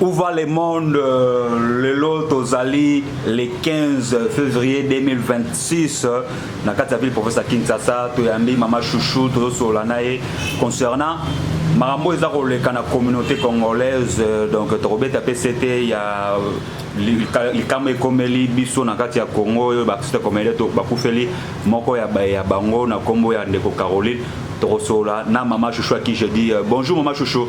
Où va le monde euh, lelo tozali le 15 février 2026 euh, na kati ya ville province ya kinshasa toyambi mama chouchou tozosolola na ye concernant makambo eza koleka na communauté congolaise euh, donc tokobeta mpe sete ya likambo ekomeli biso na kati ya congo oyo bakristo ekomeli to bakufeli moko ya bango na nkombo ya ndeko caroline tokosolola na mama chouchou aki je dis bonjour mama chouchou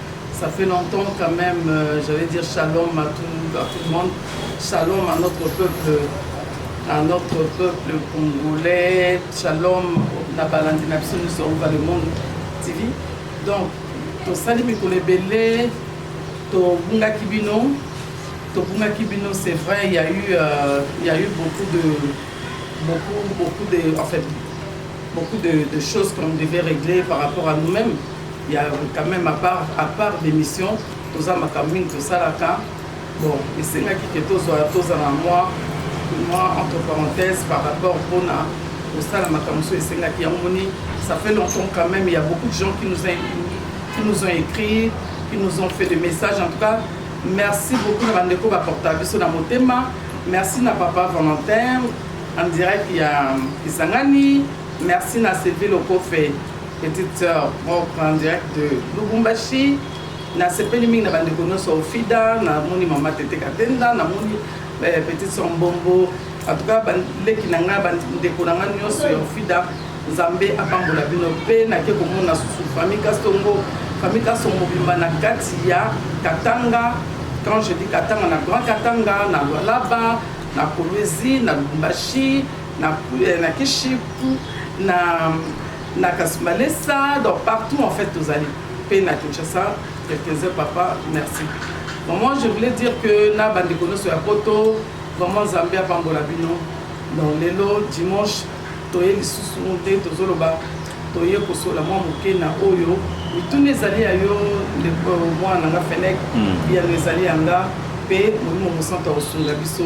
Ça fait longtemps quand même, euh, j'allais dire shalom à tout, à tout le monde, shalom à notre peuple, à notre peuple congolais, shalom na balandi na biso nyonso over le monde tv donc tosali mikolo ebele tobungaki bino tobungaki bino c'est vrai il y a eu euh, il y a eu beaucoup de beaucoup beaucoup de en fait beaucoup de, de choses qu'on devait régler par rapport à nous-mêmes ya quand même à part à part d'émission toza makambo mingi tosalaka bon esengaki ke tozwa tozala mwa mwa entre parenthèse par rapport mpona kosala makambo mosusu esengaki yango moni ça fait longtemps quand même il y a beaucoup de gens qui nous ont, qui nous ont écrit qui nous ont fait des messages en tout cas merci beaucoup na bandeko baporta biso na motema merci na papa valentin en direct ya kisangani merci na sylvie lokofe Petite sœur propre en direct de Lubumbashi. Nasepeli mingi na bandeko nyonso Ofida, namoni mama Tete Katenda, namoni eh, petite sœur Mbombo. En tout cas baleki na ngai bandeko na ngai nyonso ya Ofida, Nzambe apambola bino mpe nake komona susu famille Kastongo, famille Kastongo mobimba na kati ya Katanga. Quand je dis Katanga, na Grand Katanga, na Lualaba, na Kolwezi, na Lubumbashi, na eh, na kishipu na na kasmalesa donc partout en fait tozali mpe na kinshasa quelques-uns papa merci vraiment je voulais dire que na bandeko nyonso ya poto vraiment nzambe apambola bino donc lelo dimanche toye lisusu nde tozoloba toye kosola mwa moke na oyo mituna ezali ya yo ndeko mwana na nga fenek biyano hmm. ezali ya nga mpe molimo mosantu akosunga biso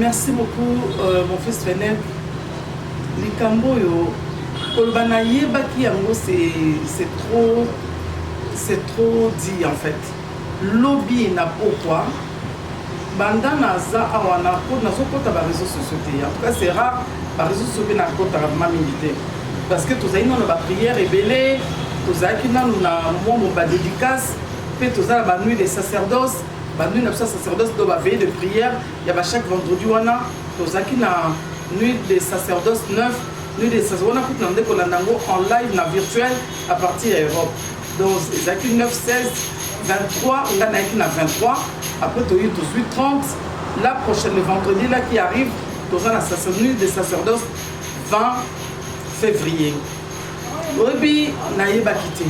merci beaucoup euh, mon fils Fenel likambo oyo koloba nayebaki yango c'est trop c'est trop dit en fait lobi na pokwa Banda na za awa na ko na zo kota ba reseaux sociaux te en tout cas c'est rare ba reseaux sociaux pe na kota ka ma mingi te parce que tozali nano ba prière ebele tozalaki nano na mwa mo ba dédicace pe toza na ba nuit de sacerdoce ba nuit na biso sacerdoce do ba veille de prière ya ba chaque vendredi wana tozalaki na nuit de sacerdoce 9 nuit de sacerdoce wana kutu na nde kolanda yango en live na virtuel à partir ya Europe Donc ezalaki 9 16 23 nga nayaki na 23 après toye tozwi 30 la prochaine le vendredi là qui arrive toza na sacerdoce de sacerdoce 20 février oyebi nayebaki te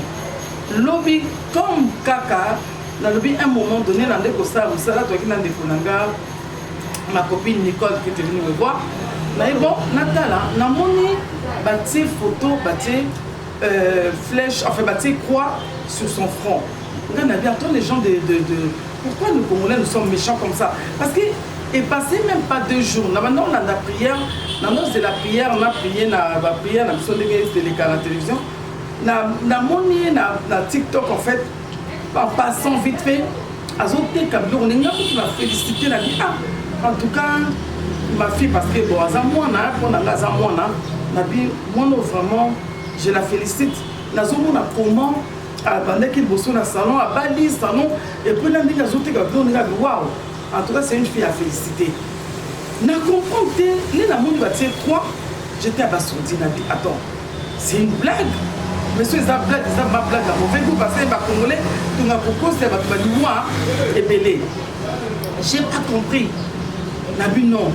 lobi comme kaka nalobi un moment donné na nde kosala mosala toyaki na ndeko na nga ma copine nicole qui était venue me voir naye bon natala namoni batie photo batie euh, flèche, enfin bah, tu croix sur son front. Regarde, Nadia, toi les gens de, de, de... Pourquoi nous Congolais nous sommes méchants comme ça Parce que et passé même pas deux jours na banda olanda prière na nose la prière na prier na baprière na biso ndenge eteleka na télévision namoni ye na, na tiktok en fait papa sans vite fait azoteka biloko ndenge akutu na félicité na bi ah en tout cas ma fille parce que bon aza mwana mpo na nga aza mwana na bi mwana vraiment je la félicite nazomona comment abandaki ah, liboso na salon abali salon epuis na ndenge azoteka biloko ndenge abi wow en tout cas c'est une fille à féliciter na comprendre te nde namoni batie 3 j'étais abasourdi na bi attends C'est une blague Monsieur eza blague eza ma blague ya mauvais goût parce que ba congolais tunga kokosa ya bato balinois ebele j'ai pas compris na bino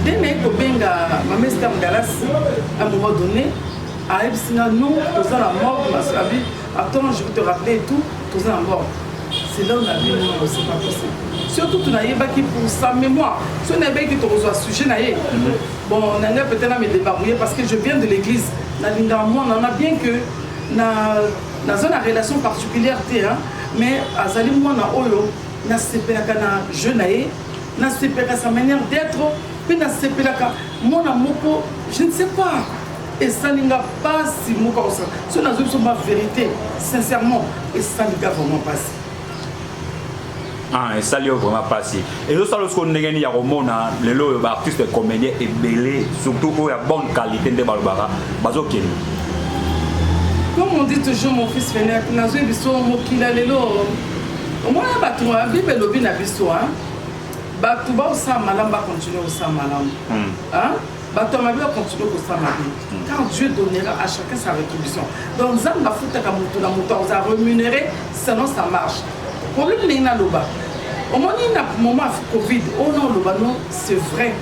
nde naye kobenga mamestam dallas à un moment donné ayebisi nga non toza na morgue nasabi attends je vais te rappeler et tout toza na morgue c'est là où na bino non c'est pas possible surtout tunayebaki pour sa mémoire so nayebaki tokozwa sujet na ye Bon, na ngai peut-être na me débrouiller parce que je viens de l'église. Na linga moi na na bien que na na zone à relation particulière te hein, mais azali moi na oyo na sepelaka na jeu na ye, na sepelaka sa manière d'être, puis na sepelaka moi na moko, je ne sais pas. esali nga mpasi moko akosala soki nazwi biso ba vérité sincèrement esali nga vraiment mpasi Ah, esali yo vraiment mpasi ezosala sikoyo ndenge nini ya komona lelo oyo baartiste comédien ebele surtout oyo ya bonne qualité nde balobaka bazokende comme on dit toujours mon fils fenek nazwi biso mokila lelo omona bato ya bible elobi na biso bato baosala malamu bakontinue kosala malamu hmm. bato ya mabe bakontinue kosala mabe car dieu donnera à chacun sa rétribution donc nzambe afutaka moto na moto akoza rémunéré selon sa marche problème ndenge naloba omoni na moment ya covid oyo oh na oloba no c'est vrai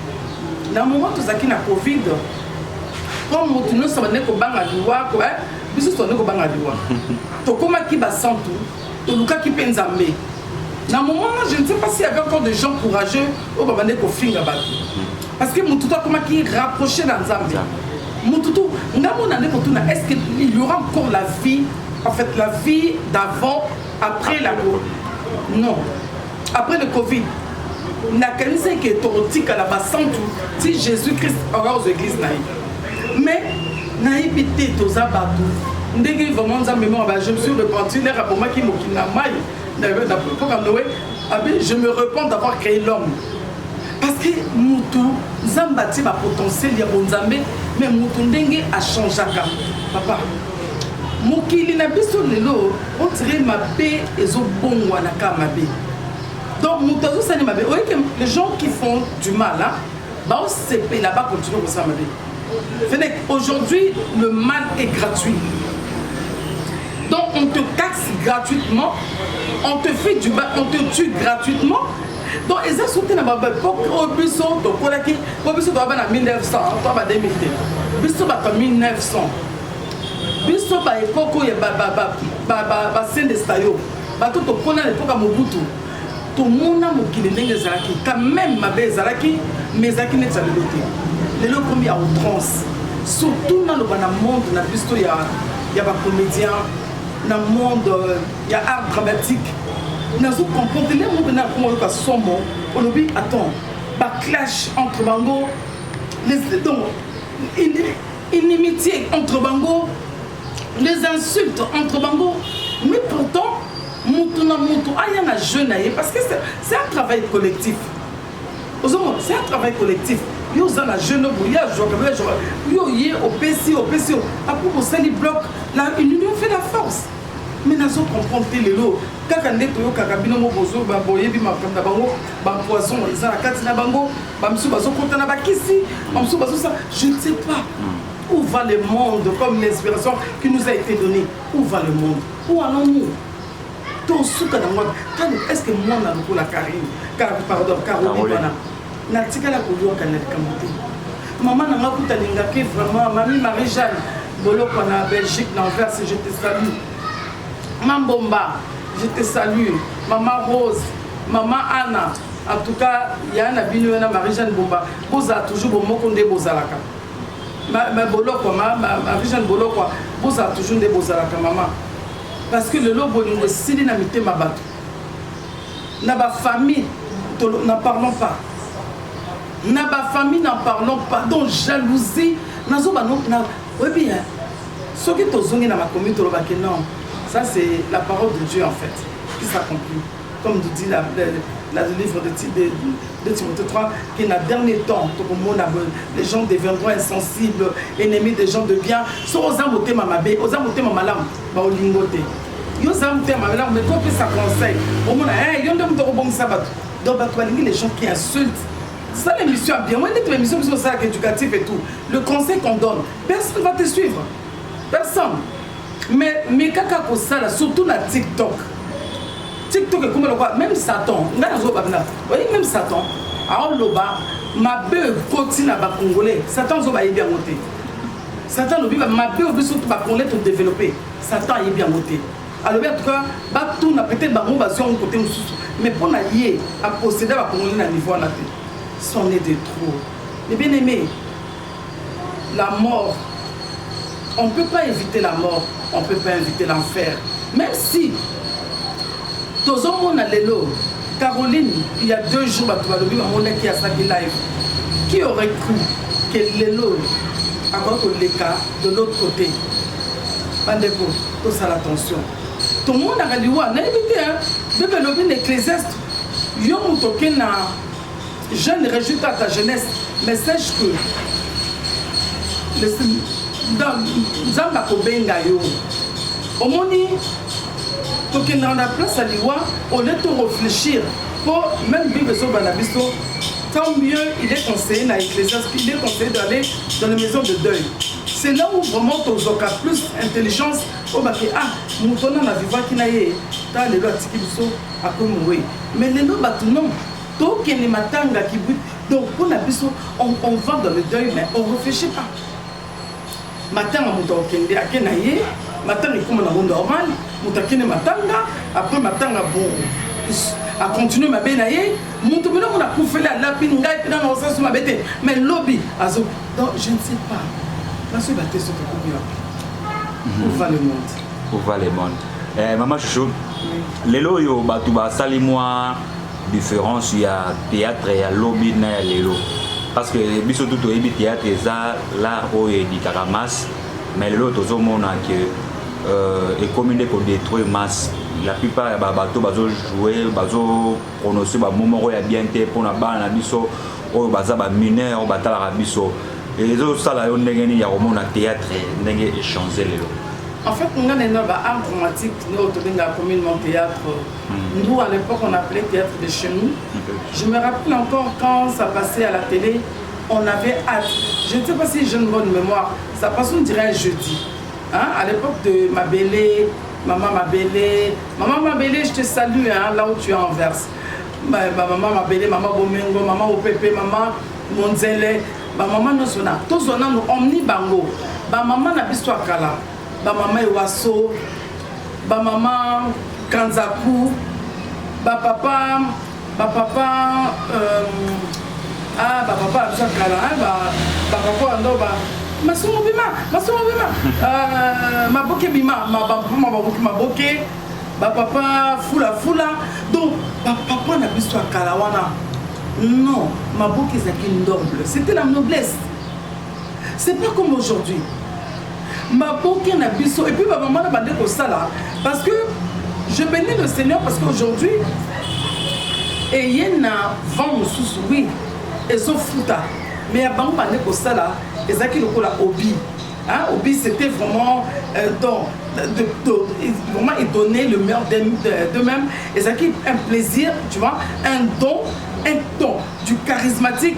na moment tozalaki na covid mpo moto nyonso abandaki kobanga liwa eh, biso tozalaki kobanga liwa tokomaki basantu Tolukaki pe Nzambe. Na moment wana je ne sais pas s'il y avait encore des gens courageux oyo babandaki kofinga batu. Parce que mutu tout akomaki rapprocher na Nzambe. Mutu tout nga mona nde kotuna est-ce que il y aura encore la vie en fait la vie d'avant après la mort. Non. Après le Covid, nakanisaki ke tokotikala basantu ti jésus christ akoya kozwa eglise na ye mais nayebi te toza bato ndenge vraiment nzambe moko ba je me suis repenti lere abomaki mokili na mai napoka noe abe je me repent d'avoir créé l'homme parce que motu nzambe atie bapotentiel ya bonzambe mais motu ndenge achangeaka papa mokili na biso lelo on dirait mabe ezobongwana ka mabe donc moto azosali mabe oye ke les gens qui font du mal hein, baosepela bakontinue kosala mabe fenec aujourd'hui le mal est gratuit donc on te taxe gratuitement on te fait du mal on te tue gratuitement donc eza so te na baepoque oyo biso tokolaki po biso toyaba na 1900 to ba 2000 te biso bato ya 1900 biso ba ekoko ya basendesta yo bato tokola na epoka mobutu tomona mokili ndenge ezalaki quand même mabe ezalaki mais ezalaki neti ya lelo te lelo ekomi ya outrance surtout naloba na monde na biso ya, ya bacomédien na monde euh, ya art dramatique nazo comprendre le monde na kongo yoka somo olobi attends baclash entre bango donc inimitié entre bango les insultes entre bango mais pourtant mutu na mutu aya na jeu na ye parce que c'est un travail collectif ozomona c'est un travail collectif yo oza na jeu nobo ye azwaka yo azwaka yo ye opesi opesi yo apo bosali bloc la union fait la force mais nazo comprendre te lelo kaka nde toyokaka bino mo bozo boyebi makambo na bango bapoison eza na kati na bango bamosusu bazokota na bakisi bamosusu bazosa je ne sais pas où va le monde comme une inspiration qui nous a été donnée où va le monde où allons-nous tosuka na mwana kani est ce que mwana lokola karine pardon caroline wana natikala koyoka na likambo te mama na nga kuta lingaki vraiment mami marie jeanne boloko na belgique na anvers je te salue mambomba je te salue mama rose mama anna En tout cas, ya na bino wana Marie Jeanne Bomba, bozala toujours bomoko nde bozalaka. Ma, ma bolokwa ma, ma Marie Jeanne Bolokwa, bozala toujours nde bozalaka mama. Parce que lelo bolingo esili na mitema bato. Na ba famille, na parlons pas. Na ba famille na parlons pas. Donc jalousie, nazo ba no na oyebi hein. Soki tozongi na makomi tolobaki non. Ça c'est la parole de Dieu en fait qui s'accomplit. comme tu dis la, la, la, le livre de, de, de Timothée 3, que na dernier temps, les gens deviendront insensibles, ennemis des gens de bien. So oza motema mabe, oza motema malamu, ba olingo te. Yo oza motema malamu, mais kopi sa conseil. Omona, eh, yo nde moto kobongisa bato. Donc bato balingi les gens qui insultent. C'est ça l'émission bien. Moi, l'émission, c'est ça, éducatif et tout. Le conseil qu'on donne, personne ne va te suivre. personne mais meka kaka kosala surtout na tiktok tiktok ekoma lokola même satan ngai nazoba bina oyebi même satan aoloba mabe ekoti na bacongolais satan azoba ayebi yango te satan alobi mabe obi surtout bacongolais todeveloppe satan ayebi yango te alobi atuka batuna peut-être bango bazwi yango kote mosusu mais mpo na ye aposeda bacongolais na niveau wana te son est de trop mais bien aimé la mort on peut pas eviter la mort on peut pas inviter l'enfer meme si tozomona lelo caroline il y a deux jours bato balobi bamonaki asaki live qui aurait cru que lelo akoki koleka de l'autre côté bandeko tosala attention tomonaka liwa nayebi te bebe elobi na ecclesiaste yo moto oke na Je ne réjouis pas ta jeunesse, mais sache que nzambe akobenga yo omoni tokendaka na place ya liwa olie to réfléchir mpo même bible ezoba na biso tant mieux il est conseillé na ecclésias il est conseillé d'aller dans les maisons de deuil c'est là où vraiment tozwaka plus intelligence oyo bake ah moto wana na vivaki na ye ta lelo atiki biso akomi moye mais lelo bato non tokende matanga kibwi donc mpo na biso on, on va dans le deuil mais on réfléchit pas matanga moto akokende ake na ye matanga ekoma nango normal moto akende matanga après matanga bon akontinue mabe na ye moto bino mona kufeli alapi ngai mpe nanga osasu mabe te mais lobi azo donc je ne sais pas naso eba te soki ekomi wapi mhm. ova le monde ova le monde eh, mama chouchou lelo oyo bato basali mwa difference ya théâtre ya lobi na ya lelo parce que biso tout oyebi théâtre eza l'art oyo edikaka masse mais lelo tozomona ke euh, ekomi nde kodétruire masse la plupart ya babato bazojoue bazoprononce bamo moko ya bien te mpona bana na biso oyo baza bamineur oyo batalaka biso ezosala yo ndenge nini ya komona théâtre ndenge echange lelo en fait nga na art dramatique nde oyo tobengaka communement théâtre Nous, à l'époque, on appelait théâtre de chez nous. Je me rappelle encore quand ça passait à la télé, on avait hâte. Je ne sais pas si j'ai une bonne mémoire. Ça passe, on dirait un jeudi. Hein? À l'époque de ma belle, maman ma belle, maman ma belle, je te salue hein, là où tu es en verse. Ma, ma maman ma belle, maman Bomengo, maman Opepe, maman Monzele, ba maman nyonso na tozwa nano omni bango ba maman na biso ya kala ba mama ewaso ba mama kanzaku ba papa ba papa euh, ah ba papa ya biso ya kala hein, ba ba papa ya ndo ba masumu bima masumu bima euh, maboke bima ma ba mama baboki maboke ba papa fula fula donc ba papa na biso ya kala wana non maboke ezalaki noble c'était la noblesse C'est pas comme aujourd'hui. Maboke na biso et puis ba maman na bande ko sala parce que je bénis le Seigneur parce qu'aujourd'hui eye na vent mosusu oui ezofuta mais ya bango bande kosala ezalaki lokola obi Hein, Obi, c'était vraiment euh, dans, de, de, vraiment il donnait le meilleur d'eux-mêmes. Et ça qui un plaisir, tu vois, un don, un don du charismatique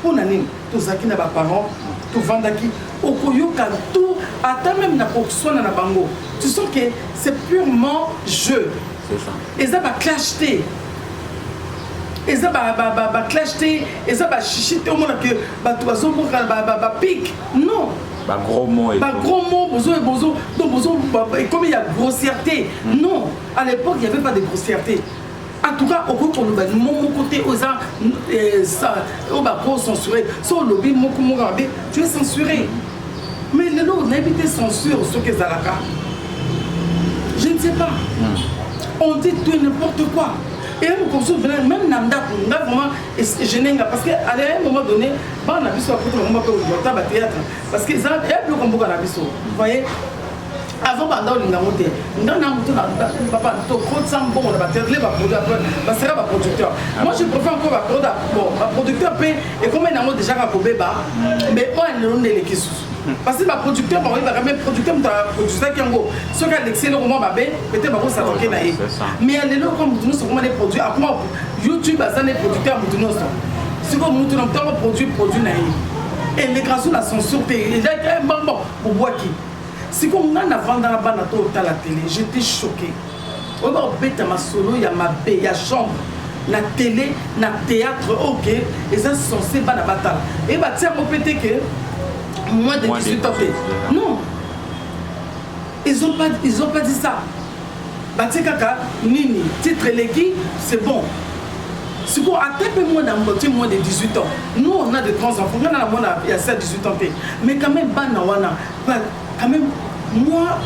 mpo na nini tozalaki na baparent tovandaki okoyoka tout ata meme na koswana na bango tu sens que c'est purement jeu eza baclash te eza baclash te eza bashishi te omona ke bato bazobokana bapike non bagros mots bagros mots bozo bozo donc bozo ekomi ya grossièreté hmm. non à l'époque il y avait pas de grossièreté en tout cas okoki koloba mo moko te oza eh, oyo bako censuré so olobi moko moko mabe tu es censuré mais lelo nayebi te censure soki ezalaka je ne sais pas hmm. on dit tout n'importe quoi et mokomosu venir même na ndako nga vraiment genenga parce que à un moment donné bana na biso akuti bango bape ozwa ta bathéâtre parce que eza ya biloko mboka na biso voyez azo banda olinga ngo te nga na mutu na papa to kotisa mbongo na baterle baproduit après baseka baproducteur ah moi je préfère encore baproduit bon baproducteur mpe ekoma nango déjà ka kobeba mais oyo alelo nde eleki susu parce que baproducteur bango yebaka me producteur moto aproduisaki yango soki alekisi eloko mwa mabe pete bakosatoke na ye mais ya lelo oka moto nyonso akoma ne produit akoma youtube aza ne producteur ya moto nyonso sikoyo moto na moto yango produit produit na ye elekaka so na censure te eza mbambo bobwaki Sikoyo nga na vanda na bana to tala tele j'etais choqué oyo ba beta masolo ya mabe ya chambre na tele na théâtre ok eza censé bana batala et ba tia mo pete que moins de 18 ans non ils ont pas ils ont pas dit ça ba tia kaka nini titre eleki c'est bon sikoyo ata mpe mwana moke moins de 18 ans nous on a de grands enfants nga na na mwana ya sa 18 ans mpe mais quand même bana wana Ba, quand même, moi,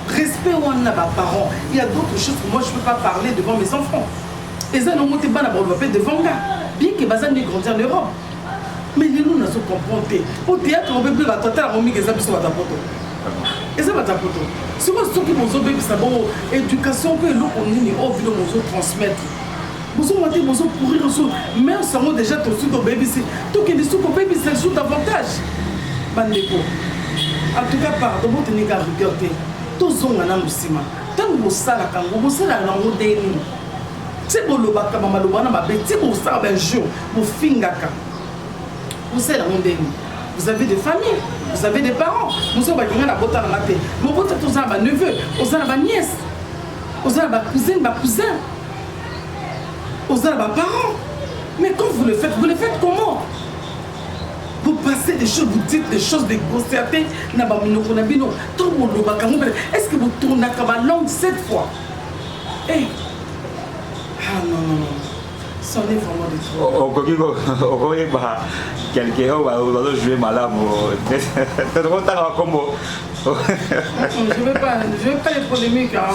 respect wana na ba parents. Il y a d'autres choses que moi je peux pas parler devant mes enfants. Eza na mote bana ba pe devant nga. Bien que bazan ne grandir en Europe. Mais les nous na so comprendre te. Au théâtre on peut plus ba tata la momi que ça biso ba tapoto. Eza ba tapoto. Soki soki bozo bebisa bo éducation pe eloko nini au vilo bozo transmettre. bozo mate bozo courir sous mais sango déjà tosi tobebisi tokende su kobebisa lisusu davantage bandeko en tout cas pardon botenika rigueur te tozonga nanu nsima ntango bosalaka yango bosalaka nango nde nini ti bolobaka bamaloba wana mabe ti bosala bajour bofingaka bosala yango nde nini vous avez des familles vous avez des parents mosusu balinga na bota na nga te mobota toza na baneveu oza na baniese oza na bacousine bacousin oza na baparent mais quand vous le faites vous le faites comment vous passez des choses vous dites des choses de concerte na baminoko na bino to bolobaka ngo est ce que botournaka balangue cette fois e eh. hey. ah non non non sonne vraiment de trop okoki okoyeba quelqu'un oyo bazojoue malamu tokotanga bakombo je veux pas je veux pas les polémiques hein.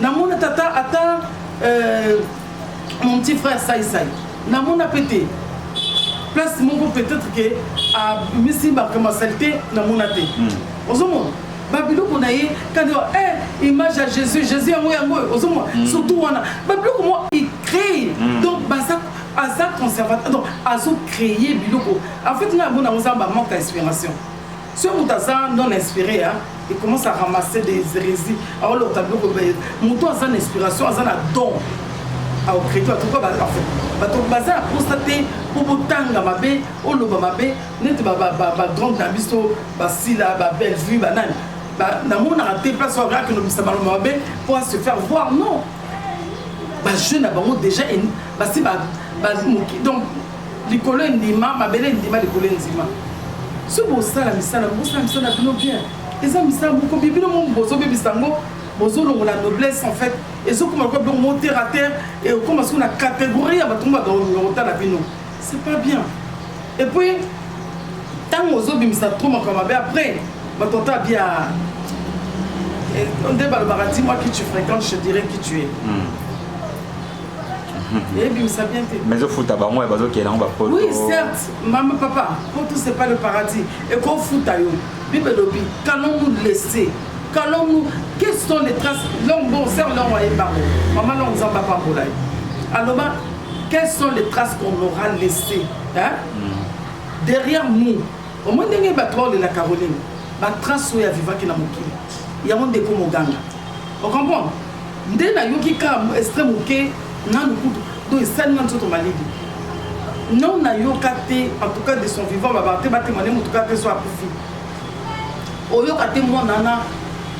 namona tata ata euh, mon petit frère saisai namona mpe te place moko peut-être ke amisi bakoma salite namona te hmm. ozomona babiloko na ye kandi eh, image ya jésus jésus yango yango oyo ozomona hmm. surtout wana babiloko mo icree hmm. donc baza aza conservateur donc azo créer biloko en fait nga yango nango ozamba manque ya inspiration soki moto aza non inspiré ya il commence à ramasser des hérésies aolota biloko moto aza na inspiration aza na don aocréto atuka bato baza na posa te mpo botanga mabe oloba mabe neti bagrande na biso basila babellevue banani namonaka te place oyo akende obisa maloba mabe mpo a se faire voir non bajeune na bango déjà basi donc likolo endima mabele endima likolo endima so bosala misala bosala misala bino bien eza misala moko bie bino momo bozobebisa yango bozolongola noblesse en fait ezokoma lokola biloko moko terre à terre ekoma soki na catégorie ya bato mobakotala bino c'est pas bien et puis ntango ozobimisa trop makambo mabe après bato ata bia nde balobaka dis moi qui tu fréquente je dirais qui tu es mm. eyebimisa bien te mais ofuta bango ya bazokende yango bapoto oui certes mama papa poto c'est pas le paradis ekofuta yo bible elobi qu'allons nous laisser qu'allons nous quelles sont les traces long bon sœur long waye bango mama long nzambe apambola ye aloba quelles sont les traces qu'on aura laissé hein? Mm. derrière nous omoi ndenge bato baolela caroline batrace oyo avivaki na mokili yango ndeko moganga ocomprendre nde nayoki ka estre moke nanu kutu do esali nga nzoto malili non nayoka te en tout cas de son vivant babaka te batemane motu kaka te so akufi oyoka te mwana na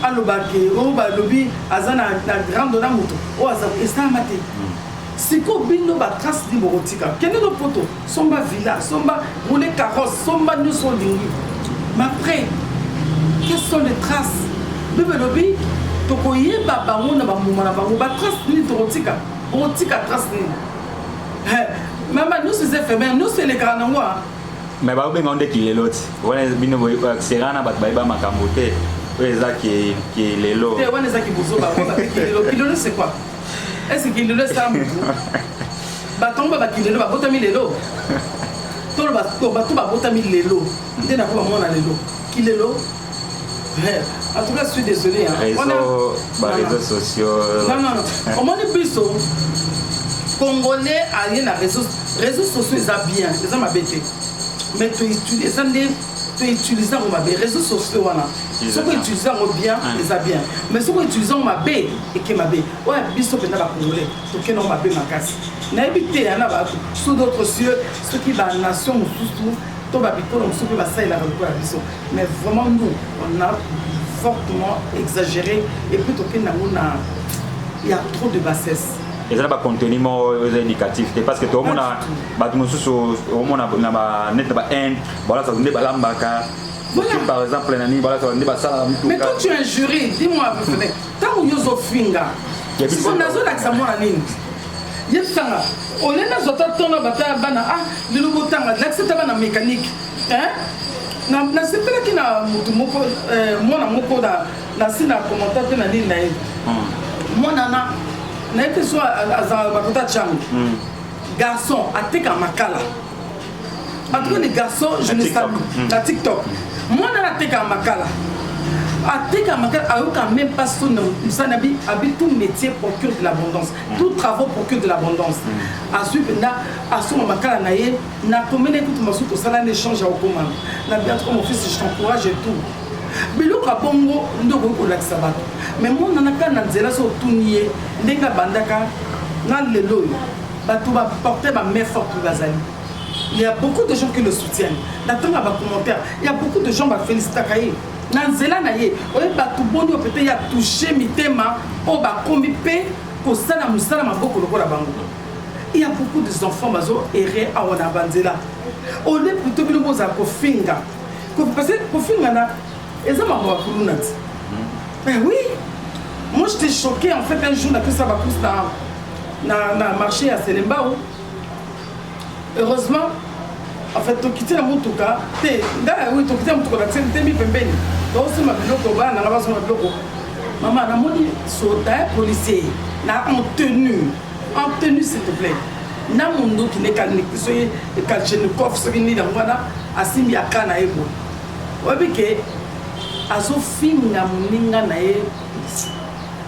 alobake o oh, balobi aza na grande na moto oyo oh, aza esalama te hmm. sikoyo bino batrace nini bokotika kende no poto somba villa somba roule carrosse somba nyonso olingi mais après quelles sont les traces bible elobi tokoyeba bango na bambuma na bango batrace nini tokotika okotika trace nini mama nyonso eza efemere nyonso elekaka nango a me bakobenga nde kilelo ti wana bino sera na bato bayeba makambo te oyo eza kilelo te wana eza kibozoba kilelo kilelo c'est quoi esi kindelo esala motu bato yango babakindelo babotami lelo toloba bato babotami lelo nde nakoba mwana lelo kilelo en tout cas je suis désolé hein. réseau ba réseaux sociaux non non non omoni biso congolais aye na réseau réseau sociaux eza bien eza mabe te mais eza nde to utilise yango mabe réseau sociaux wana soki utilise yango bien eza bien mais soki utilise yango mabe eke mabe oyo biso mpenza bacongolais tokende yango mabe makasi nayebi te ya na bato sous d'autres cieux soki banation mosusu to babikolo mosusu mpe basalelaka lokola biso mais vraiment nous on a fortement exagéré et puis tokende yango na ya trop de bassesse eza na bacontenu moko eza éducatif te parce que toomona bato mosusu omona na banete na bainde balasa nde balambaka Voilà. Par exemple, nani bala ça nde basala mituka. Mais quand tu injures, dis-moi vrai. Tant yo zo finga. Siko nazo lakisa mwana nini? Yebisanga, ole nazo ta tona bata bana ah lelo botanga lakisa ta bana mécanique. Hein? Na na sepelaki na mutu moko euh, mwana moko na na sina commentaire pe na nini na ye. Hmm. Mwana na na ye pe so azala bakota changu. Hmm. Garçon ateka makala. en tout cas les garçons je ne salue hmm. na tiktok mwana nateka makala ateka makala ayoka même pas son mosala na bi abi tout métier procure de l'abondance hmm. tout travaux procure de l'abondance hmm. azwi mpenza asomba makala na ye na komene kutu masusu tosala na échange ya kokoma na bi antuka mon fils je t'encourage et tout biloko ya bongo nde okoki kolakisa bato mais mwana na kaka na nzela so otuni ye ndenge abandaka na lelo oyo bato ba porte ba main forte bazali il y a beaucoup de gens qui le soutiennent natanga ba commentaire il y a beaucoup de gens ba felicitaka ye na nzela na ye oye bato boni oyo pete ya touche mitema oyo bakomi mpe kosala mosala maboko lokola bango il y a beaucoup des enfants bazo erre awa na banzela au lieu plutôt bino bozala kofinga parce que kofinga na eza makambo ya kuluna ti mais oui moi j'étais choqué en fait un jour napesa bacourse na, na, na marché ya selembao heureusement en fait tokiti na motuka te ngai oui tokiti na motuka bakiseli te mi pembeni tokosima biloko bana nanga bazonga biloko mama namoni soda policier na en tenue en tenue s'il te plaît na munduki ne kalniki soki kalchenikov soki nini yango wana asimbi aka na ye boye Oyebi ke azofinga moninga na ye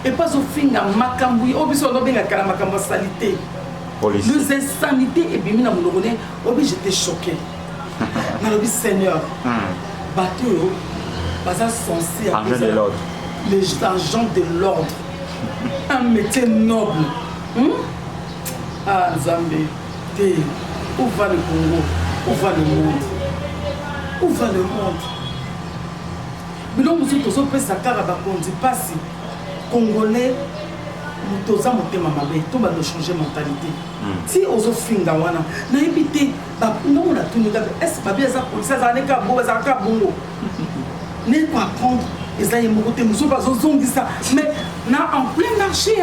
epe azofinga makambo oyo biso bazobengaka na makambo ya salite les insanités ebimi na monoko ne oyebi jete choqué nalobi seigneur hmm. bato oyo baza sense les agents de l'ordre un métier noble hmm? ah nzambe Te où va le Congo où va le monde où va le monde bino mosusu tozopesa kaka bakonzi mpasi congolais moto oza motema mabe to bando changer mentalité hmm. ti ozofinga wana nayebi te ntango natuni kaka ese babi aza polisi azala ne kaka bongo azala kaka bongo ne ko apprendre eza ye moko te mosusu bazozongisa mais na en plein marché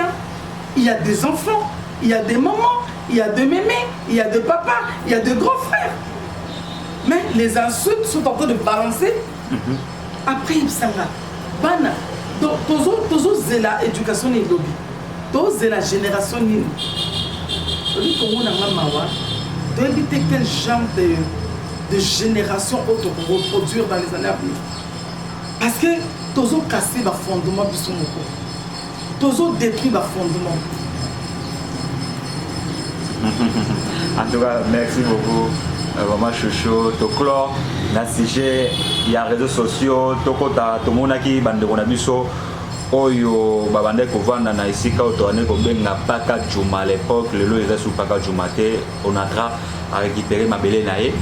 il ya des enfants il ya des mamans il ya des meme il ya des papas il ya des grands frères mais les insultes sont en train de balancer mm -hmm. après yebisanga bana donc tozozela tozo éducation nini elobi tozela génération nini oyebi komona nga mawa toyebi te quel genre de, de génération oyo tokoreproduire dans les années à venir parce que tozokase bafondement biso moko Tozo detruit ba fondement. en tout cas, merci beaucoup. Euh, mama shosho toclore na sujet ya réseau sociaux tokota tomonaki bandeko na biso oyo babandaki kovanda na esika oyo tobandaki kobenga paka juma à l'époque lelo eza su paka juma te Onatra a récupérer mabele na ye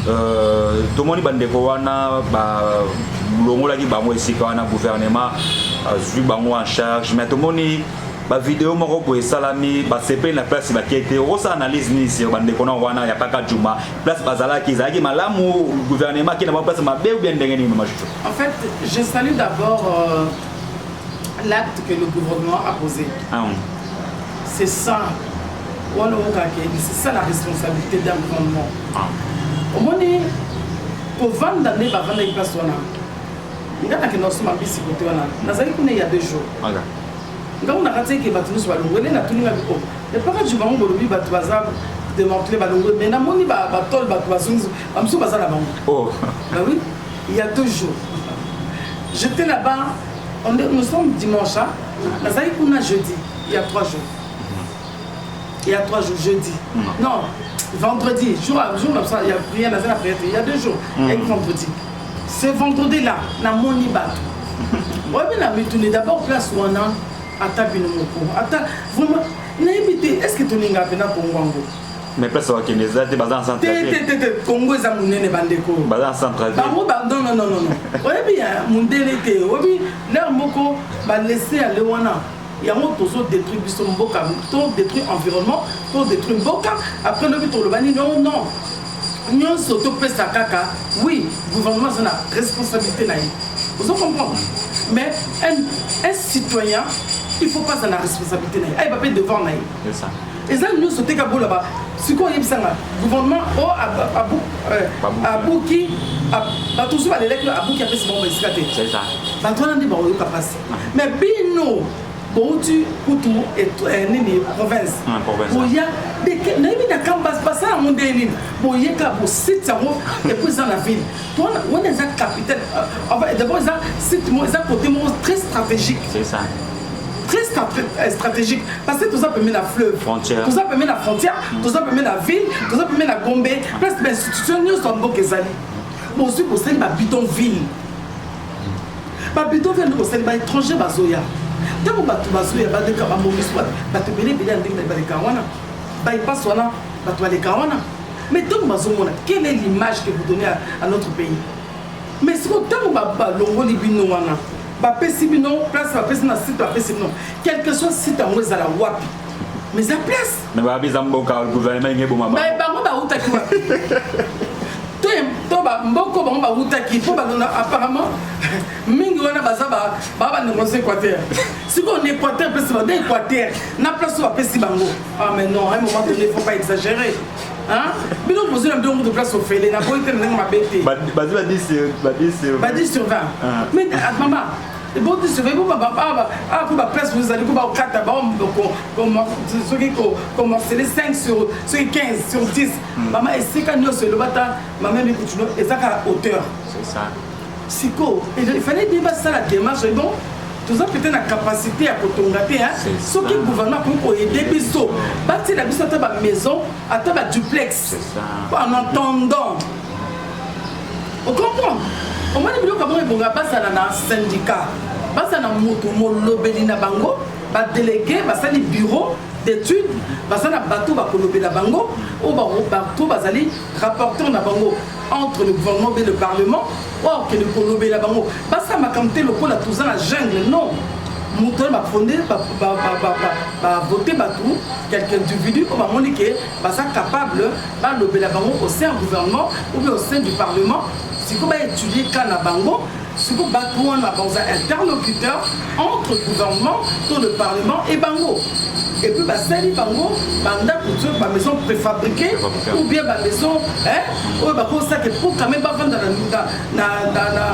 euh, tomoni bandeko wana balongolaki bango esika wana gouvernement azwi bango en charge mais tomoni bavideo moko boye esalami basepeli na place bake te okosala analyse nini sio bandeko na wana ya kaka juma place bazalaki ezalaki malamu gouvernement akenda bango place mabe ou bien ndenge nini mama jojo en fait je salue d'abord euh... L'acte que le gouvernement a posé, ah oui. c'est ça. wana okake c'est ça la responsabilité d'un gouvernement ah. omoni kovanda nde bavandaki place wana nga nakenda kosoma mbisi kote wana nazali kuna ya deux jours nga kuna kati eke bato nyonso balongwele natuninga biko epaka ju bango bolobi bato baza démantelé balongwe mais namoni batole bato bazongi bamosusu baza na bango oh. bawi ya deux jours j'étais là-bas On est, nous sommes dimanche, hein? nazali kuna jeudi, il y a trois jours. Il y a trois jours, jeudi. Mm. Non, vendredi, jour, jour là, il y a prière, nazali na prière, il y a deux jours, mm. et vendredi. Ce vendredi là, na moni bato. oyebi na mituni d'abord place wana ata bino moko ata vraiment nayebi te est ce que tolinga mpena kongo yango mais place bakende eza te baza na centretete congo eza monene bandeko baza na centretebango nonnonono oyebi ya mondele te oyebi lere moko balese ya le wana yango tozo détruire biso mboka to détruire environnement to détruire mboka après lobi toloba nini o non nyonso topesa kaka oui gouvernement aza na responsabilité na ye ozo comprendre mais un, un citoyen il faut pas azala responsabilité na ye ayeba mpe devoir na ye eza nyonso te kabola ba sikoyo oyebisa nga gouvernement o abuki bato mosusu balelaki abuki apesi bango esika te bato wana nde bakoyoka mpasi mais bino bouti kutu eh, nini province ah, boya nayebi na kamba basala yango nde nini boyeka bosite yango epo eza na ville pona wana eza capitale euh, d'abord eza site eza côté moko très stratégique très euh, stratégique parce que toza pembe na fleuve toza pembe na frontière mm. toza pembe na ville toza pembe na gombe place bainstitution nyonso ya mboka ezali bozwi bosali babidon ville babidon ville nde bosali baétranger bazoya ntango bato bazoya baleka bamonisi bato ebele ebele ya ndenge na baleka wana baipasi wana bato baleka wana mais ntango bazomona quelle est l'image que vous donnez à, à notre pays mais siko ntango balongoli bino wana bapesi bino place bapesi na site bapesi bino quelque soit site yango ezala wapi mais eza place mais babi eza mboka gouvernement enge eboma mais bango bautaki wapi to mboko bango bautaki mpo balona apparemment mingi wana baza baa bandeko nso équateur sikoyo na équateur mpesi bada équateur na place oyo bapesi bango ah mais non un moment donné faut pas exagérer bino bozwi na bino kutu place ofele na boyi te na ndenge mabe te bazwi ba 10 sur 20 ah. mais ah, mama eboti sur 20 mpo ah, ba place bozali ko bakokata soki commerciale 5 sur soki 15 sur 10 hmm. mama esika nyonso elobata mama mikutuno eza kaka hauteur Sikoyo il fallait bien basala demarche donc toza peut-être na capacité ya kotonga te hein. C'est ça. soki gouvernement akoki koyede biso batyela biso ata bamaison ata baduplex C'est ça. en attendant ocomprendre omoni biloko yango ebonga bazala na syndicat bazala na moto molobeli na bango badelege basali bureau d'étude baza na bato bakolobela bango oyo ba- bato bazali rapporteur na bango entre le gouvernement mpe le parlement oyo akende kolobela bango basala makambo te lokola toza na jungle non moto wana bafonde bavote bato quelque individu oyo bamoni ke baza capable balobela bango au sein ya gouvernement ou bien au sein du parlement sikoyo baétudie ka na bango Siko batu wana baza interlocuteur entre gouvernement to le parlement et bango et puis basali bango bandako to ba maison préfabriquée ou bien ba maison hein oyo bakosala ke pour quand même bavanda na na na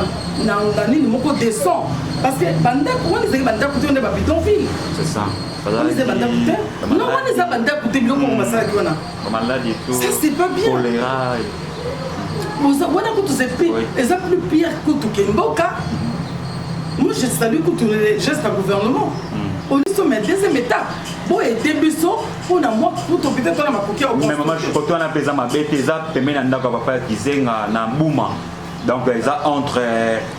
na na nini moko descend parce que bandako wana ezali bandako te wana ba bidonville c'est ça wana eza bandako te non wana eza bandako te biloko yango basalaki wana Maladi to. Ça c'est pas bien. Choléra. Boza wana kutu c'est pire. Eza plus pire kutu ke mboka. Moi je salue kutu les gestes à gouvernement. Mm. Au lieu mais deuxième étape. Bon et début so pour na moi pour ton peut-être on a ma coquille au. Mais maman je crois toi na pesa ma bête eza pemena ndako papa kizenga na bouma. Donc eza entre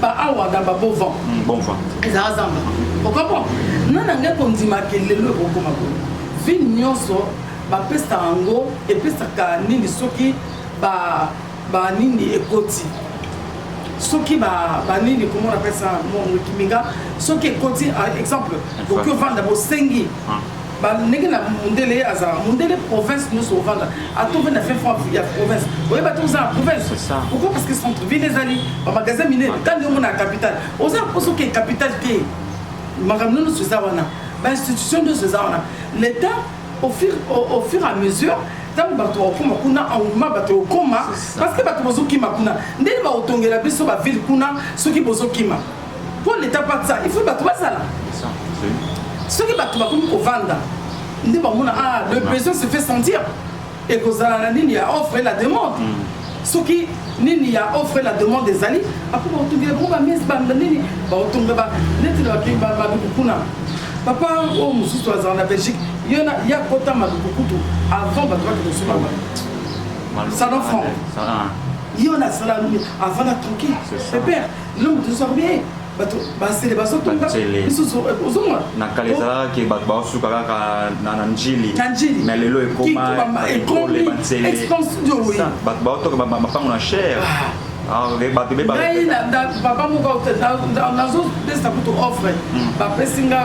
ba awa dans ba beau vent mm, bon vent ezala zamba okoko na na ngai kondima ke lelo ekokoma boye vie nyonso bapesa yango epesaka nini soki ba ba nini ekoti soki banini komona pesa mokiminga soki ekoti ah, exemple boki ovanda bosengi ah. Ba ndenge na mundele ye azala mundele province nyoso ovanda ata ovanda fin fond ya province oyeba te oza na province pourquoi parce que centre ville ezali bamagasin minene kandi omona ya capitale oza na mposa oke capitale te makambo nyonso eza wana bainstitution nyonso eza wana l'état au fur, au, au fur et à mesure ntango bato bakokoma kuna engouement bato ekokoma parce que bato bozokima kuna ndenge bakotongela biso baville kuna soki bozokima Pour l'État pas ça, il faut bato bazala. Soki bato bakomi kovanda, nde bamona ah le besoin se fait sentir. Ekozala na nini ya offre et la demande. Hmm. Soki nini ya offre et la demande ezali, après bakotunga bango ba messe banda nini, bakotunga ba neti na bakingi ba maduku kuna. Papa oyo oh, mosusu azala na Belgique, yo na ya kota maduku kutu avant bato bakende kosuba ba. Salon franc. Yo na sala avant na tranquille. C'est père. eloko tozwaka bie bato basele bazotonga misusu ozomona na kala ezalaka ke bato baosuka kaka na njili na njili me lelo ekomaekole bansele bato baotoka mapango na chere bato bebangai papa moko nazopesa kutu offre bapesi nga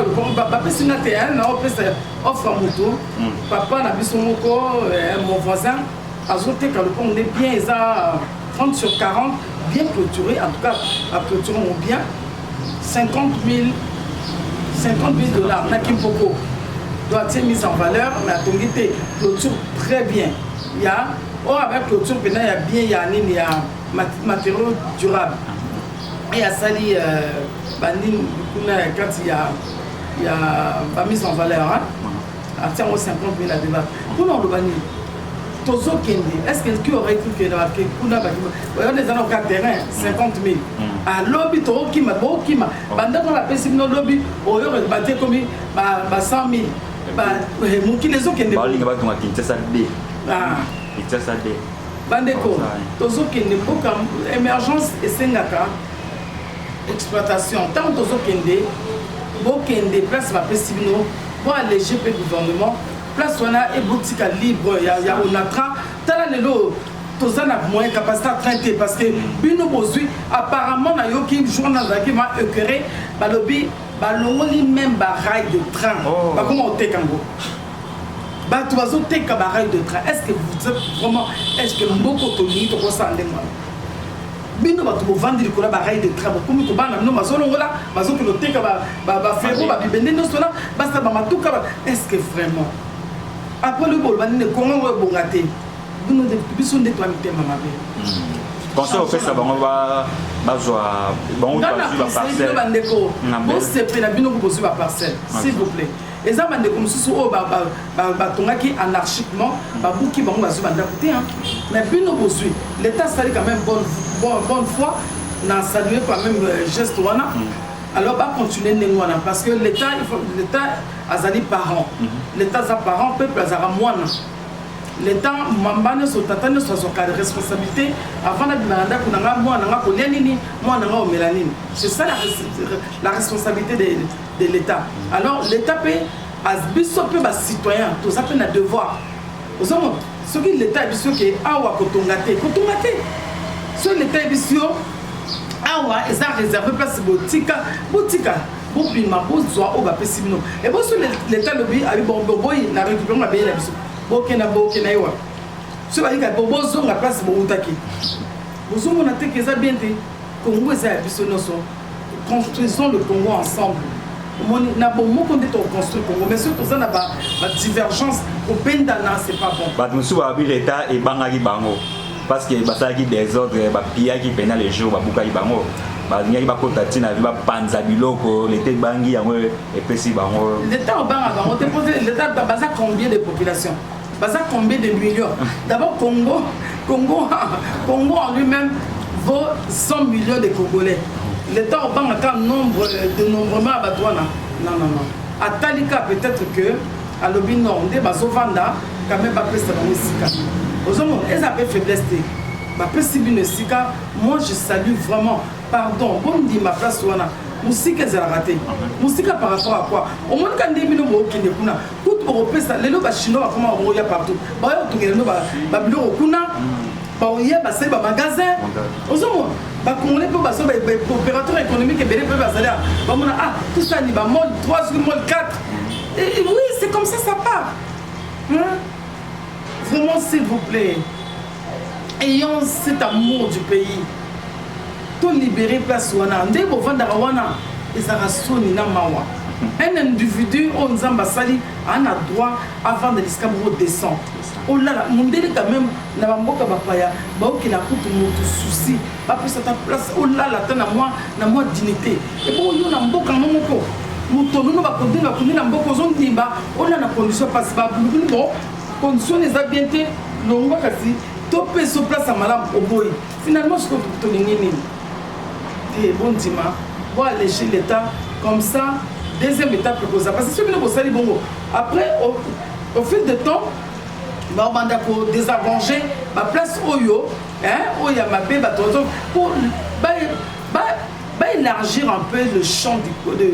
bapesi nga te naopesa offre ya moto papa na biso moko mon voisin azoteka lopango nde bien eza 30 sur 40 bien clôturé en tout cas ba clôture ngo bien 50 000 50 000 dollars na kimpoko doit être mise en valeur mais atongi te clôture très bien ya oyo oh, avec clôture mpena ya bien ya nini ya matériaux durable et asali euh, banini kuna ya kati ya ya bamise en valeur hein? atie yango 50 mille ya dollar mpona oloba nini tozokende est-ce que qui aurait cru que na kuna bakima oyona eza na ka terrain 50 mille alobi tokokima bokima bandako napesi bino lobi oyo bate ekomi ba 100 mille mokili ezokende balinga batonga kinshasa d kinshasa d bandeko tozokende mboka émergence esengaka exploitation ntango tozokende bokende place bapesi bino Bo alleger pe gouvernement place wana et botika libre ya, ya onatra tala lelo toza na moyen capacité à train te parce que bino bozwi apparemment nayoki jour wana nazalaki ma écœuré balobi balongoli même barail de train oh. bakoma koteka yango bato bazoteka barail de train est ce que vous êtes vraiment est ce que mboko tolingi tokosala ndenge wana bino bato bovandi likolo ya barail de train bokomi kobana bino bazolongola bazokende oteka bafero babibende nyonso wana basala bamatuka estce vraiment apres lobi boloba nini kongo yango ebonga te bino biso nde twa mitema mabe hmm. conseil opesa bango bazwa bango bazwi baparcelle bandeko bosepela bino bozwi baparcelle s'il vous plaît Eza ba ndeko mususu oyo ba ba ba tongaki anarchiquement ba buki bango bazui ba ndaku te hein mais bino bozui l'etat sali quand même bonne bonne bonne foi na saluer quand même euh, geste wana mm. alors ba continuer ndenge wana parce que l'etat il faut l'etat azali parent mm-hmm. l'etat aza parent peuple azaka mwana leta mamba nyonso tata nyonso azwaka responsabilité avant nabima na ndako na ngai mwana na ngai kolia nini mwana na ngai omela nini c'est ça la, la responsabilité de de l'etat alors l'etat pe biso pe ba citoyen toza pe na devoir ozomona soki l'etat ya biso ke awa kotonga te kotonga te soki l'etat ya biso awa eza réserve place botika botika bobima bozwa oyo bapesi bino eboso leta alobi abi boboyi na récupere mabele na biso bokenda bokenda ye wapi so balika po bozonga place bowutaki bozomona te ke eza bien te kongo eza ya biso nyonso construisons le congo ensemble omoni na bomoko nde toconstruire congo mais soki toza na badivergence kobendana c'est pas bon bato mosusu balobi leta ebangaki bango parce que basalaki desordre bapiyaki mpena le jour babukaki bango balingaki bakota ntina vi bapanza biloko leta ebangi yango epesi bango leta obangaka yango te baza combien de population Baza combien de millions D'abord Congo, Congo, Congo en lui-même vaut 100 millions de Congolais. L'État obanga ka nombre de nombrement ya bato wana non non non atali ka peut-être que alobi non nde bazovanda quand même bapesa bango esika ozomona eza mpe faiblesse te bapesi bino esika moi je salue vraiment pardon bondima place wana mosika ezalaka te mosika par rapport à quoi omonika nde bino bookende kuna kutu bakopesa lelo bachinois bakoma bakoya partout baoya kotongela bino babiloko kuna baoya basali bamagasin ozomona bacongolais mpe bazo baopérateur économique ebele mpe bazali bamona ah tosani bamol 3 soki mol 4 oui c'est comme ça ça part vraiment s'il vous plaît ayant cet amour du pays to libere place wana nde bovandaka wana ezalaka soni na mawa un individu oyo nzambe asali ana droit avanda lisika moko descend olala mondele quand même na bamboka bapaya baokela kutu moto susi bapesa ta place olala ata na mwa na mwa dignité ebo yo na mboka yango moko moto nono bakodini bakundi na mboka ozondimba olala na condition mpasi babulubulu bo Condition wana eza bien te longwa kasi topesa yo place ya malamu oboyi finalement siko tolingi nini te eh, bondima boaleche l'état comme ça deuxième étape ekoza parce que soki bino bosali bongo après au, au fil de temps babanda kodésarrange baplace oyo oyo ya mabe bato bazo baélargir un peu le champ du, de,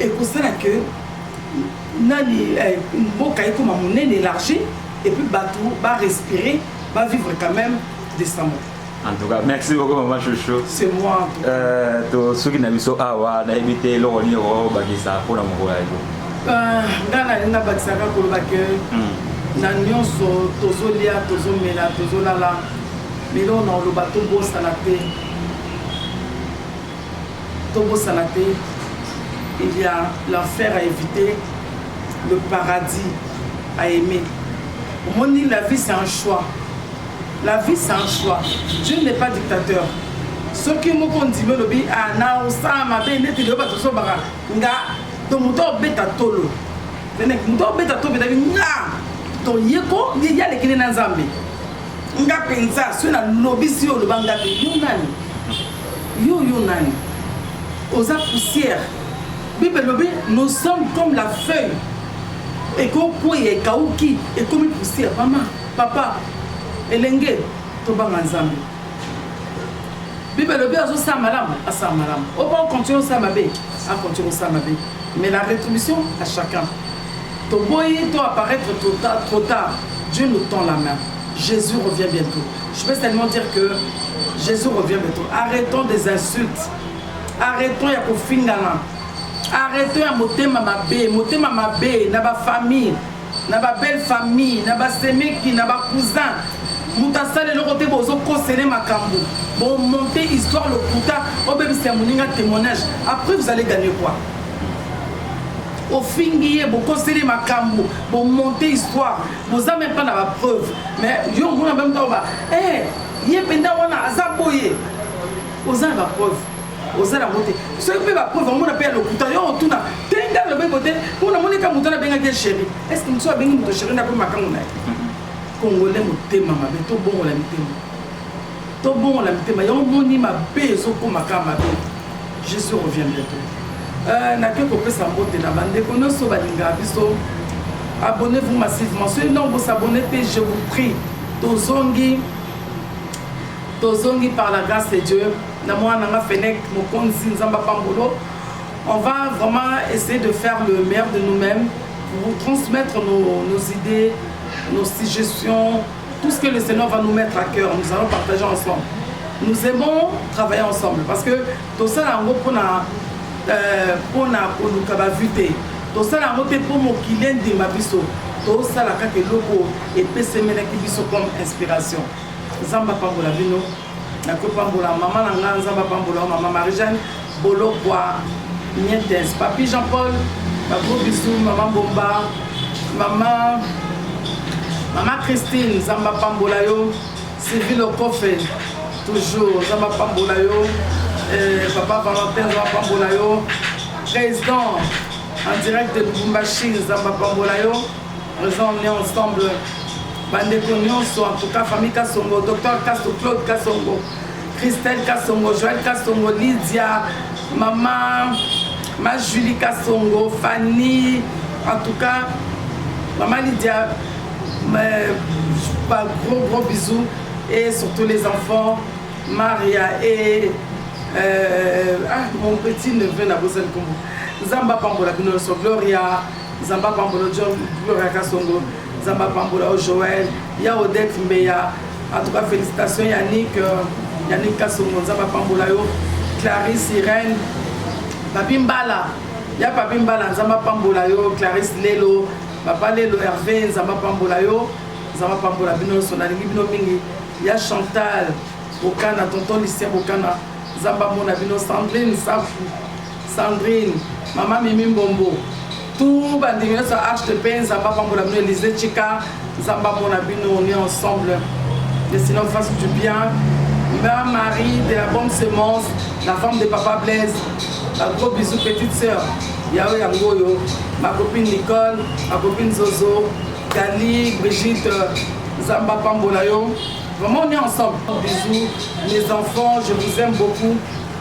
ekosala que nani eh, mboka ekoma monene élargi et puis bato ba respirer ba vivre quand même décemment en tout cas merci beaucoup maman chouchou c'est moi euh, tosuki na biso awa nayebi te eloko nini okobakisa mpona mokolo ya yo euh, ngai nalingi nabakisaka koloba ke hmm. na nyonso tozolia tozomela tozolala lelo na oloba tobosana te tobosana te il ya l'enfer à eviter le paradis à aimer omoni la vie c'est un choix la vie c'est un choix dieu n'est pas dictateur soki moko ondimi olobi ah, na osala mabe neti lelo bato osobaka nga to moto obeta tolo moto obeta tolo betaki nga toyeko ye yalekele na nzambe nga mpenza soki nalobisi yo oloba nga te yo nani Yo yo nani? Oza poussière. Bible elobi nous sommes comme la feuille ekokweya ekauki ekomi poussière. Mama, papa, elenge tobanga Nzambe. Bible elobi azosala malamu, asala malamu. Opa okontinue osala mabe, akontinue osala mabe. Mais la rétribution à chacun. Toboyi to apparaître trop tard, trop tard. Dieu nous tend la main. Jesus revient bientôt. Je vais seulement dire que Jesus revient bientôt. Arrêtons des insultes. Arrêtons ya kofingana. Arrêtons ya motema mabe, motema mabe na ba famille, na ba belle famille, na ba semeki, na ba cousin. Moto asala eloko te bozo kosele makambo. Bon monter histoire lokuta, obebisa moninga témoignage. Après vous allez gagner quoi? ofingi ye bokoseli makambo bomonte histoire boza meme pas na ba preuve mais yo omona meme ntango ba eh, ye mpenza wana aza boye oza na ba preuve oza nango te soki mpe ba preuve omona mpe ya lokuta yo otuna te nga lobeko te mpo namoni ka moto wana abengaki ye chéri est ce que mosusu abengi moto chéri na mpe makango na ye congolais motema mabe tobongola mitema Tobongola mitema yango moni mabe ezokoma ka mabe jesus revient bientôt euh, nake kopesa mbote na bandeko nyonso balingaka biso abonnez-vous massivement soki ntango bosabonne te je vous prie tozongi tozongi par la grâce de dieu na mwana nanga fenec mokonzi nzambe apambolo on va vraiment essayer de faire le meilleur de nous-mêmes pour vous transmettre nos, nos idées nos suggestions Tout ce que le Seigneur va nous mettre à cœur, nous allons partager ensemble. Nous aimons travailler ensemble parce que tosala yango mpona euh, mpona koluka bavue te tosala yango mpe mpo mokili endima biso tosala kaka eloko epesemelaki biso comme inspiration nzambe apambola bino nakopambola mama na ngai nzambe apambola yo mama marijane bolokwa mientes papi jean paul bagros bisu mama bomba mama mama christine nzambe apambola yo sylvie lokofe toujours nzambe apambola yo eh, papa valentin nzambe apambola yo président en direct de lubumbashi nzambe apambola yo Raison on est ensemble. Bandeko nyonso en tout cas famille Kasongo, docteur Kasso, Claude Kasongo, Christelle Kasongo, Joël Kasongo, Lydia, maman, ma Julie Kasongo, Fanny, en tout cas maman Lydia, mais, pas gros gros bisous et surtout les enfants, Maria et euh, ah, mon petit neveu Nabosel Kombo. Zamba Pambola Binoso, Gloria, nzambe apambola john gloria kasongo nzambe apambola yo joel ya odette mbeya atuka félicitation yannick euh, yannick kasongo nzambe apambola yo clarisse irène papi mbala ya papi mbala nzambe apambola yo clarisse lelo papa lelo herve nzambe apambola yo nzambe apambola bino nyonso nalingi bino mingi ya chantal bokana tonton lucien bokana nzambe amona bino sandrine safu Sandrine, maman Mimi Mbombo, tout bandimi nyonso ya arche de paix nzambe apambola bino elise chika nzambe amona bino on est ensemble le seigneur fasse du bien ma marie de la bonne semence la femme de papa blaise ba gros bisous petite sœur yayo yango oyo ma copine nicole ma copine zozo dali brigitte nzambe apambola yo vraiment on est ensemble bisous mes enfants je vous aime beaucoup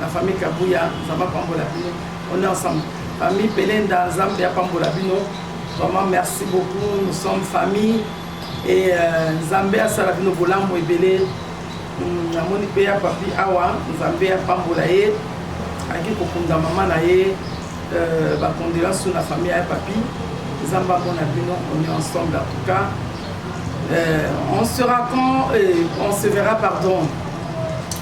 La famille Kabuya Nzambe apambola bino. On est ensemble. Famille Belenda Nzambe apambola bino. Vraiment merci beaucoup. Nous sommes famille et euh, Nzambe asala bino bolamu ebele. Hmm, namoni mpe ya papi awa Nzambe apambola ye ayaki kokunda mama na ye euh, bacondoléance na famille ya papi Nzambe amona bino on est ensemble en tout cas euh, on sera quand euh, on se verra pardon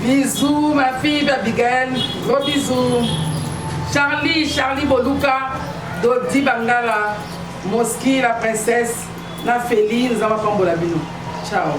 Bisous ma fille Abigail, gros bisous. Charlie, Charlie Boluka, Dodi Bangala, Moski, la princesse, na Feli, nous avons pas la bino. Ciao.